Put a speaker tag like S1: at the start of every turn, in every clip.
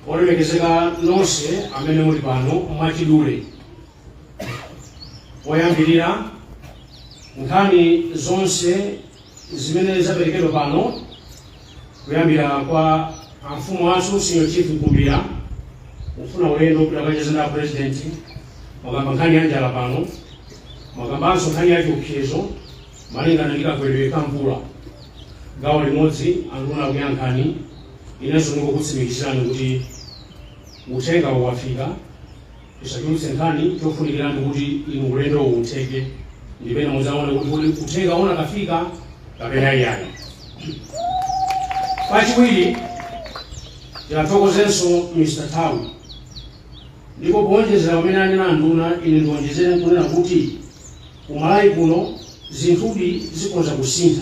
S1: olemekezeka nonse amene muli pano mwachidule poyambirira nkhani zonse zimene zaperekedwa pano kuyambira kwa amfumu athu senior chief mkumbira kufuna ulendo kuti akacheze ndi apurezidenti mwakamba nkhani ya njala pano mwakambanso nkhani ya chiopsezo malingana ndi kagwedwe ka mvula gawo limodzi anduna akuyankhani Inenso ndingokutsimikizirani kuti uthengawo wafika. Tisachulutse nkhani, chofunikira ndi kuti inu ulendowu utheke ndipo ena mudzaone kuti kodi uthengawo unakafika kapena iyayi. Kachiwiri, tiwathokozenso Mr Thau. Ndipo poonjezera pamene anena anduna, ine ndionjezere nkunena kuti ku Malawi kuno zinthudi zikhonza kusintha.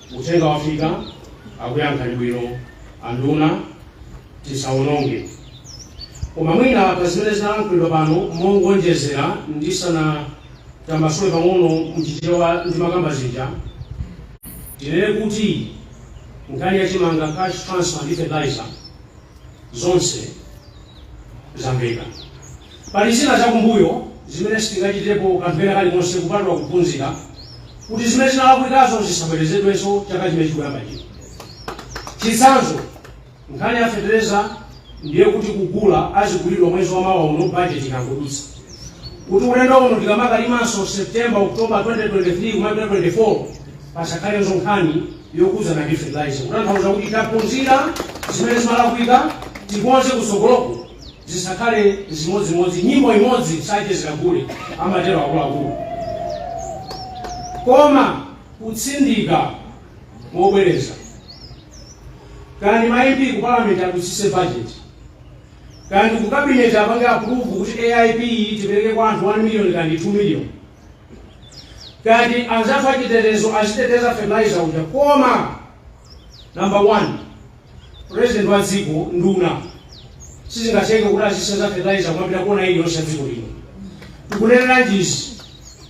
S1: Uthenga wafika akuyankhani bwino anduna tisawononge koma mwina pazimene zalankhulidwa pano mongonjezera ndisanatambasule pang'ono mchichewa zimene ndimakamba zija tinene kuti nkhani ya chimanga, cash transfer ndi fertilizer. Zonse zamveka. Pali zina zakumbuyo zimene sitingachitepo kanthu kena kalikonse kupatula kuphunzira kuti zimene zinalakwikazo zisabwerezedwenso chaka chimene chikuyamba chino. Chitsanzo, nkhani ya fetereza ndiye kuti kugula azigulidwa mwezi wa mawa uno bajeti ikangodutsa. Kuti ulendo uno tikamakalimanso September, October 2023 kumapita 24 Pasakhalenso nkhani yokhudzana ndi fertilizer kutanthauza kuti taphunzira zimene zimalakwika tikonze kutsogoloku zisakhale zimodzimodzi nyimbo imodzi sachezera gule amatero akuluakulu koma kutsindika mobwereza kaya ndi ma MP ku parliament adutsitse budget kaya ndi ku cabinet apange approve kuti AIP tipereke kwa anthu 1 million kaya ndi 2 million kaya ndi anzathu achitetezo aziteteza fertilizer uja koma number one president wa dziko nduna sizingatheke kuti azisenza fertilizer kumapita kuona ili yonse dziko lino tikunena izi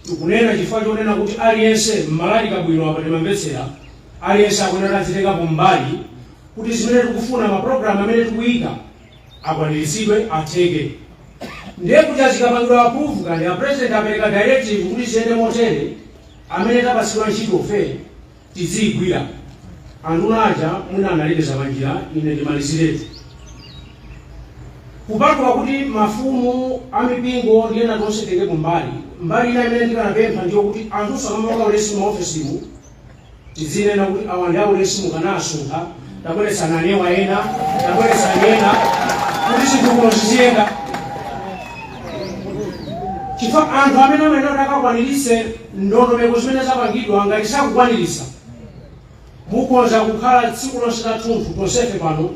S1: tikunena chifukwa chonena kuti aliyense mmalali kabwino apa timamvetsera aliyense akunena titengepo mbali kuti zimene tikufuna maprogramu amene tikuyika akwaniritsidwe atheke ndiye kuja zikapangidwa approve kaya a president apereka directive kuti ziyende motere amene tapatsidwa ntchito ife tidziyigwira anduna aja mwina analekeza panjira ine ndimaliziretu kupatula kuti mafumu amipingo ndi ena tonse titengeko mbali mbali ina imene ndikanapempha ndiyo kuti anthu samamanga ulesi maofesimu Tizinena kuti awa ndi aulesi mukanawasuntha, tabweretsani ena, tabweretsani ena kuti chitukuko chiziyenda. Chifukwa anthu amene amayenera kuti akakwaniritse ndondomeko zimene zapangidwa ngati sakukwaniritsa, mukhoza kukhala tsiku lonse lathunthu tonsefe pano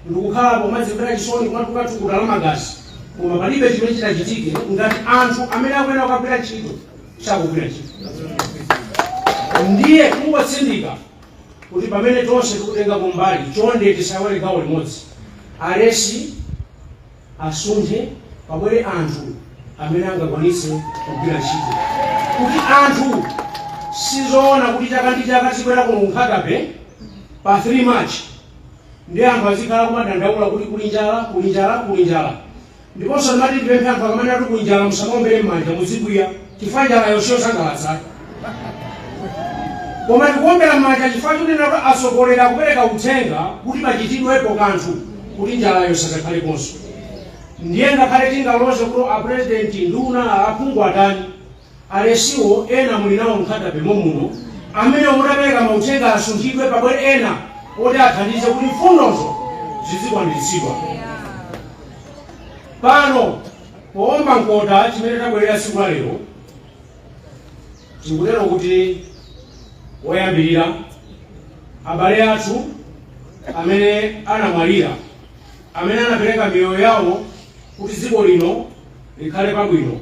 S1: ndikukhala kumadzimvera chisoni kumatuluka thukuta la magazi koma palibe chimene chitachitike ngati anthu amene akuyenera kukagwira ntchito sakugwira ntchito ndiye kungotsindika kuti pamene tonse tikutenga mbali chonde tisaiwale gawo limodzi alesi asunthe pabwere anthu amene angakwanitse kugwira ntchito kuti anthu sizoona kuti chaka ndi chaka tizibwera kuno ku Nkhata Bay pa 3 march ndi anthu azikhala kumadandaula kuti kuli njala kuli njala kuli njala Ndiponso ndimati ndipemphe anthu akamanena kuti kuli njala musamaombere m'manja muzikwiya chifukwa njalayo siyosangalatsa. Koma tikuombera m'manja chifukwa chonena kuti atsogoleri akupereka uthenga kuti pachitidwepo kanthu kuti njalayo isazakhaleponso. Ndiye ngakhale tingaloze kuti apurezidenti, nduna, aphungu atani, Alesiwo ena muli nawo mu Nkhata Bay momuno amene munapereka mauthenga asunthidwe pabwere ena oti athandize kuti mfundozo zidzikwaniritsidwa. Pano poomba mkota chimene tabwerera tsiku la lero ndi kutero kuti woyambirira abale athu amene anamwalira amene anapereka miyoyo yawo kuti dziko lino likhale pabwino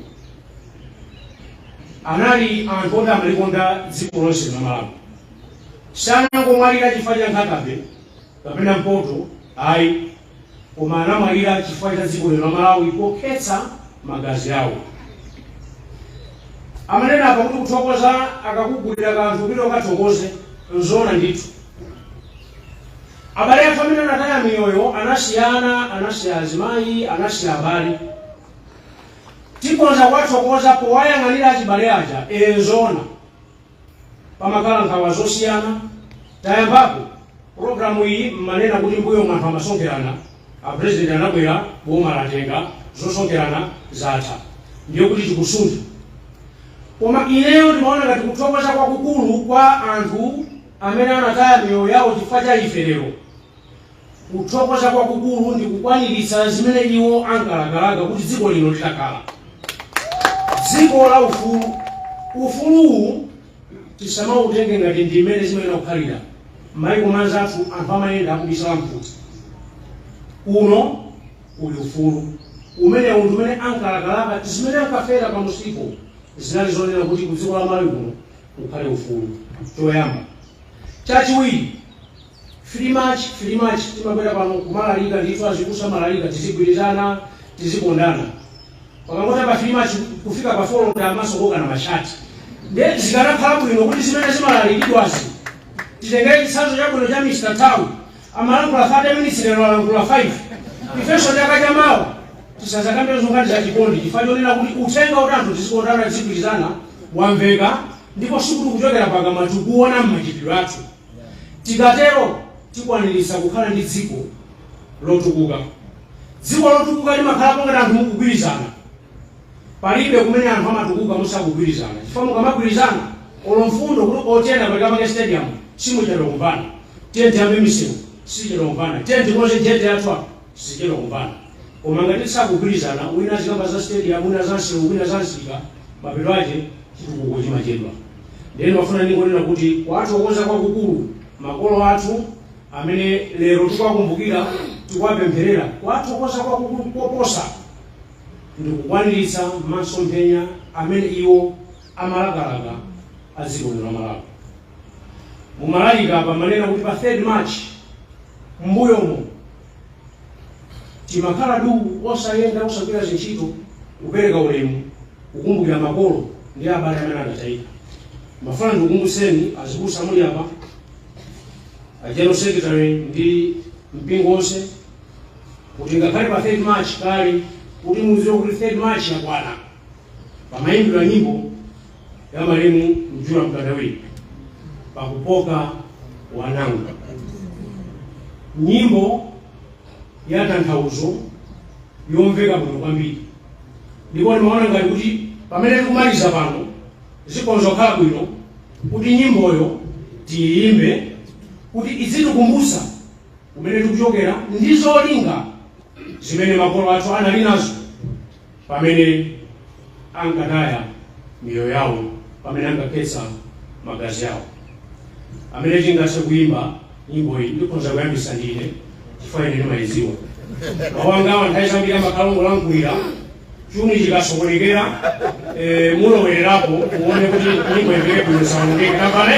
S1: anali anthu oti amalikonda dziko lonse la malawi sanangomwalira chifukwa cha Nkhata Bay kapena mpoto ayi koma anamwalira chifukwa cha dziko lino la malawi pokhetsa magazi awo amanena apa kuti kuthokoza akakugulira kanthu kuti ukathokoze nzona ndithu abale athu amene anataya miyoyo anasiyana anasiya azimayi anasiya abale Tikhonza kuwathokoza powayang'anira achibale aja ee nzoona pamakhala nkhawa zosiyana tayambako program iyi mumanena kuti mbuyomu anthu amasonkherana a president anabwera boma latenga zosonkherana zatha ndiye kuti tikusuntha koma ineyo ndimaona ngati kuthokoza kwakukulu kwa anthu amene anataya miyoyo yawo chifukwa cha ife lero kuthokoza kwakukulu ndi kukwaniritsa zimene iwo ankalakalaka kuti dziko lino litakhala dziko la ufulu ufuluwu tisamautenge ngati ndi mmene zimayenera kukhalira maiko anzathu anthu amayenda akubisala mfuti uno uli ufulu umene unthu umene ankalakalaka zimene ankafera pa musipo zinali zonena kuti ku dziko la malawi kuno kukhale ufulu choyamba chachiwiri 3 march 3 march timabwera pano nkumalalika ndithu azibusa amalalika tizigwirizana tizikondana pakangotha pa 3 march kufika pa 4 tayambaso kukokana mashati nde zikanakhala bwino kuti zimene zimalalikidwazi titengere chitsanzo chabwino cha mr town amalankhula 30 minutes lero alankhula 5 ifenso chaka chamawa tisazakambe zongati za chikondi chifukwa chonena kuti uthenga woti anthu tizikondana tizigwirizana wamveka ndipo sikuti kuchokera pakamwa tikuona mmachitidwe athu Tikatero tikwaniritsa kukhala ndi dziko lotukuka. Dziko lotukuka limakhalapo ngati anthu mukugwirizana. Palibe kumene anthu amatukuka musakugwirizana chifukwa mukamagwirizana olo mfundo kuti o tiyeni apereka pake stadium simuchedwa kumvana. Tiyeni tiyambe misewu simuchedwa kumvana. Tiyeni tikonze jetty yathu apa. Simuchedwa kumvana. Koma ngati tisakugwirizana, wina azikamba za stadium, wina za nsewu, wina za msika, mapeto ache chitukuko chimachedwa. Ndiye ndimafuna ndingonena kuti kuwathokoza kwakukulu, makolo athu amene lero tikuwakumbukira, tikuwapempherera, kuwathokoza kwakukulu koposa ndi kukwaniritsa masomphenya amene iwo amalakalaka a dziko lino la Malawi. mumalalika apa mumanena kuti pa 3 march mbuyomo timakhala du osayenda osagwira zintchito kupereka ulemu kukumbukira makolo ndi abale amene anatayika ndimafuna ndikukumbutseni azibusa muli apa a general secretary ndi mpingo onse kuti ngakhale pa 3 march kale kuti muziwe kuti 3 march yakwana pamayimbidwa nyimbo ya malemu Mjura Mkandawire pakupoka wanangwa nyimbo ya tanthauzo yomveka bwino kwambiri ndipo ndimaona ngati kuti pamene tikumaliza pano zikhonza kukhala bwino kuti nyimboyo tiyimbe kuti izitikumbutsa kumene tikuchokera ndi zolinga zimene makolo athu anali nazo pamene ankataya miyoyo yawo, pamene ankakhetsa magazi awo. Amene angathe kuimba nyimbo iyi ndikhonza kuyambisa ndine chifukwa ine ndimayidziwa. Mawu angawa nthawi zambiri amakhala ongolankhulira chuni chikasokonekera eh, mulowererapo muone kuti nyimbo imveke bwino isaonongeke tapale